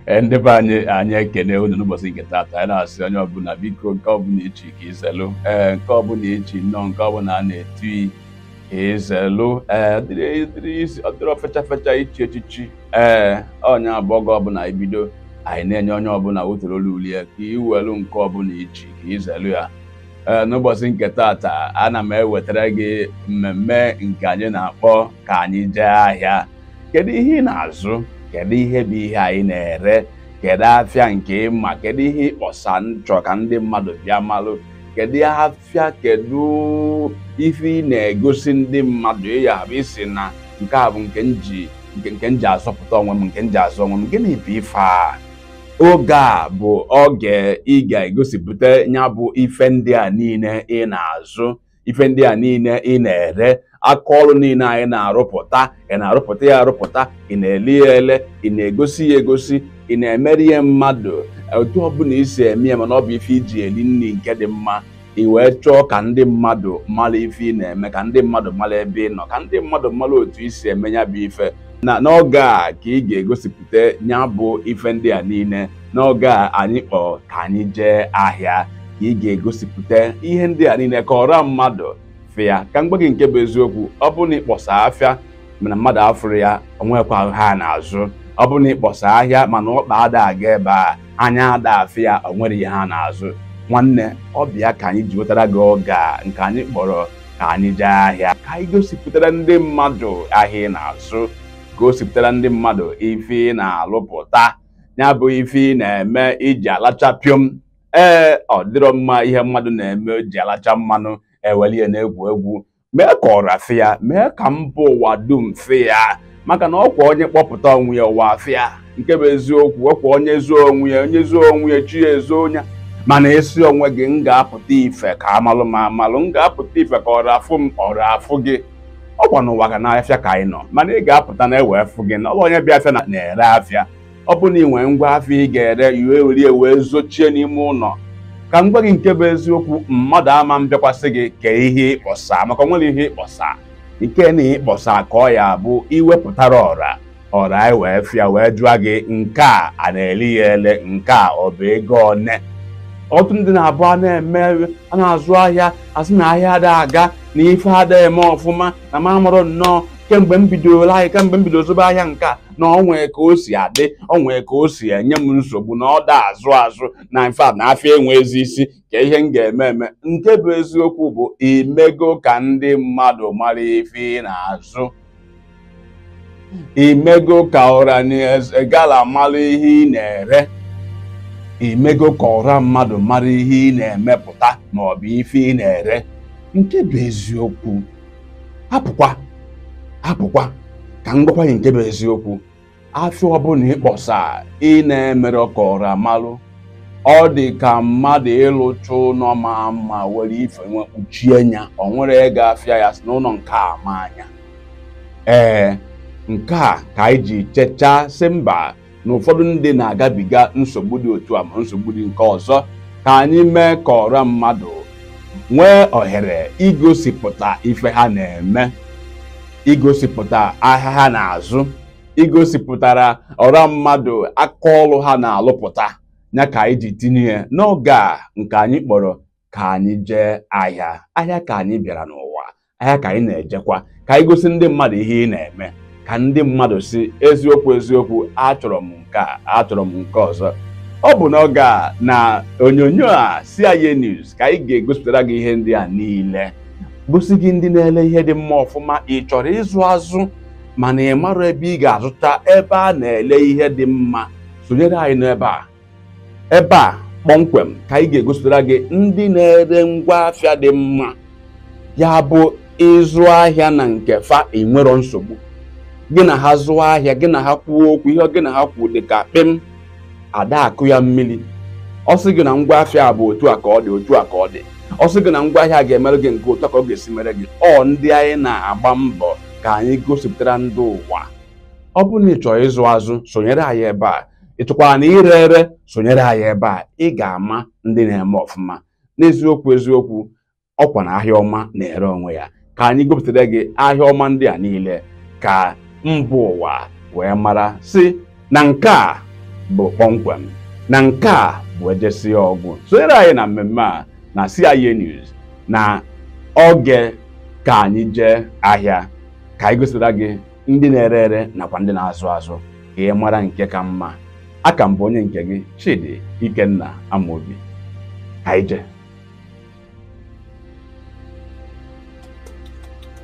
Ee, ndị be anyị anyị ekene unu n'ụbọchị nke taata anyị na-asị onye ọbụla biko nke ọbụla ichi ka izelụ ee nke ọbụla ichi nnọọ nke ọbụla a na-etu ka izelụ ee ọ dịrọ ọ dịrọ isi- ọ dịrọ fecha fecha ichi echichi ee ya bụ oge ọbụla anyị bido anyị na-enye onye ọbụla wetara olu uli ya ka iwelu nke ọbụla ichi ka izelụ ya ee n'ụbọchị nke taata ana m ewetara gị mmemme nke anyị na-akpọ ka anyị jee ahịa kedu ihe ị na-azụ kedu ihe bụ ihe anyị na-ere kedu afịa nke ị ma kedu ihe ị kpọsa na-achọ ka ndị mmadụ bịa malụ kedu afịa kedu ife ị na-egosi ndị mmadụ ịya bụ ị sị na nke a bụ nke nji nke nke nji azọpụta onwe m nke nji azụ onwe m gịnị bụ ife a oge a bụ oge ị ga-egosipụta ya bụ ife ndị a niile ị na-azụ ife ndị a niile ị na-ere aka ọrụ niile anyị na-arụpụta ị na-arụpụta ya arụpụta ị na-ele ya ele ị na-egosi ya egosi ị na-emere ya mmadụ otu ọbụla isi eme ya mana ọ bụ ife iji eri nni nke dị mma ị wee chọọ ka ndị mmadụ mara ife ị na-eme ka ndị mmadụ mara ebe ị nọ ka ndị mmadụ mara otu isi eme ya bụ ife n'oge a ka ị ga-egosipụta ya bụ ife ndị a niile n'oge a anyị kpọrọ ka anyị jee ahịa ka ị ga-egosipụta ihe ndị a niile ka ọra mmadụ fị ya ka m gwa gị nke bụ eziokwu ọ bụrụ na ị kpọsa afịa mana mmadụ afụrọ ya onwekwa ahịa ị na-azụ ọ bụrụ na ị kpọsa ahịa mana ọkpa ada aga ebe a anya ada afị ya onwere ahịa ị na-azụ nwanne ọ bụ ya ka anyị ji wetara gị oge a nke anyị kpọrọ ka anyị jee ahịa ka anyị gosipụtara ndị mmadụ ahịa ị na-azụ gosipụtara ndị mmadụ ife ị na-alụpụta ya bụ ife ị na-eme iji alacha pịọm ee ọ dịrọ mma ihe mmadụ na-eme o ji alacha mmanụ eweli ya na-egwu egwu mee ka ọra fị ya mee ka mba ụwa dum fị ya maka na ọkwa onye kpọpụta onwe ya ụwa fị ya nke bụ eziokwu ọkwa onye zoo onwe ya onye zoo onwe ya chi ya ezoo ya mana ị sị onwe gị m ga-apụta ife ka amalụ m amalụ m ga-apụta ife ka ọra fụ m ọra afụ gị ọkwa na ụwa ga n'afịa ka anyị nọ mana ị ga-apụta na ewee fụ gị na ọ bụ onye bịa afịa na-ere afịa ọ bụrụ na ị nwee ngwa afịa ị ga-ere ị wee were ya wee zochie n'ime ụnọ ka m gwa gị nke bụ eziokwu mmadụ ama mbịakwasị gị kee ihe ị kpọsa maka o nwerọ ihe ị kpọsa nke na ịkpọsa ka ọ ya bụ ị wepụtara ọra ọra anyị wee fị ya wee jụọ gị nke a a na-ele ya ele nke a ọ bụ ego one ọtụtụ ndị na-abụ a na-eme a na-azụ ahịa asị na ahịa ada aga na ife ada eme ọfụma na m amarọ nnọọ kemgbe m bidoro ahịa kemgbe m bidoro zụbe ahịa nke a na ọ nwee ka o si adị ọ nwee ka o si enye m nsogbu na ọ da azụ azụ na infact na afịa enwezi isi kee ihe m ga-eme eme nke bụ eziokwu bụ i mego ka ndị mmadụ mara ife ị na-azụ i mego ka ọranaeze gala mara ihe ị na-ere i mego ka ọra mmadụ mara ihe ị na-emepụta ma ọ bụ ife ị na-ere nke bụ eziokwu hapụkwa hapụkwa ka m gwakwa gị nke bụ eziokwu afịa ọbụla ịkpọsa ị na-emerọ ka ọra malụ ọ dị ka mmadụ ịlụcha ụnọ ma mma were ife wee kpuchie nya o nwere onye ga-afụ ya sị na ụnọ nke a ma anya ee nke a ka anyị ji chechaa sị mba na ụfọdụ ndị na-agabiga nsogbu dị otu a ma nsogbu dị nke ọzọ ka anyị mee ka ọra mmadụ nwee ohere igosipụta ife ha na-eme igosipụta ahịa ha na-azụ igosipụtara ọra mmadụ aka ọlụ ha na-alụpụta ya ka anyị ji tinye ya n'oge a nke anyị kpọrọ ka anyị jee ahịa ahịa ka anyị bịara n'ụwa ahịa ka anyị na-ejekwa ka anyị gosi ndị mmadụ ihe ị na-eme ka ndị mmadụ sị eziokwu eziokwu achọrọ m ka achọrọ m nke ọzọ ọ bụ n'oge a na onyonyo a CIA News ka anyị ga-egosipụtara gị ihe ndị a niile gosi gị ndị na-ele ihe dị mma ọfụma ị chọrọ ịzụ azụ mana ị marọ ebe ị ga-azụta ebe a na-ele ihe dị mma sonyere anyị n'ebe a ebe a kpọmkwem ka anyị ga-egosipụtara gị ndị na-ere ngwa afịa dị mma ya bụ ị zụọ ahịa na nke fa i nwerọ nsogbu gị na ha zụọ ahịa gị na ha kwuo okwu ihe gị na ha kwuo dị ka kpịm ada akụ ya mmiri ọ sị gị na ngwa afịa a bụ otu a ka ọ dị otu a ka ọ dị ọ sị gị na ngwa ahịa ga-emere gị nke otu a ka ọ ga-esi mere gị ọ ndị anyị na-agba mbọ ka anyị gosipụtara ndị ụwa ọ bụrụ na ị chọrọ ịzụ azụ sonyere anyị ebe a ị chọkwara na ire ere sonyere anyị ebe a ị ga-ama ndị na-eme ọfụma n'eziokwu eziokwu ọkwa na ahịa ọma na-ere onwe ya ka anyị gosipụtara gị ahịa ọma ndị a niile ka mba ụwa wee mara sị na nke a bụ kpọmkwem na nke a bụ ejesi ọgwụ sonyere anyị na mmemme a na CIA News na oge ka anyị jee ahịa ka anyị gosira gị ndị na-ere ere nakwa ndị na-azụ azụ ka ị mara nke ka mma a ka m bụ onye nke gị Chidi Ikenna Amobi ka anyị jee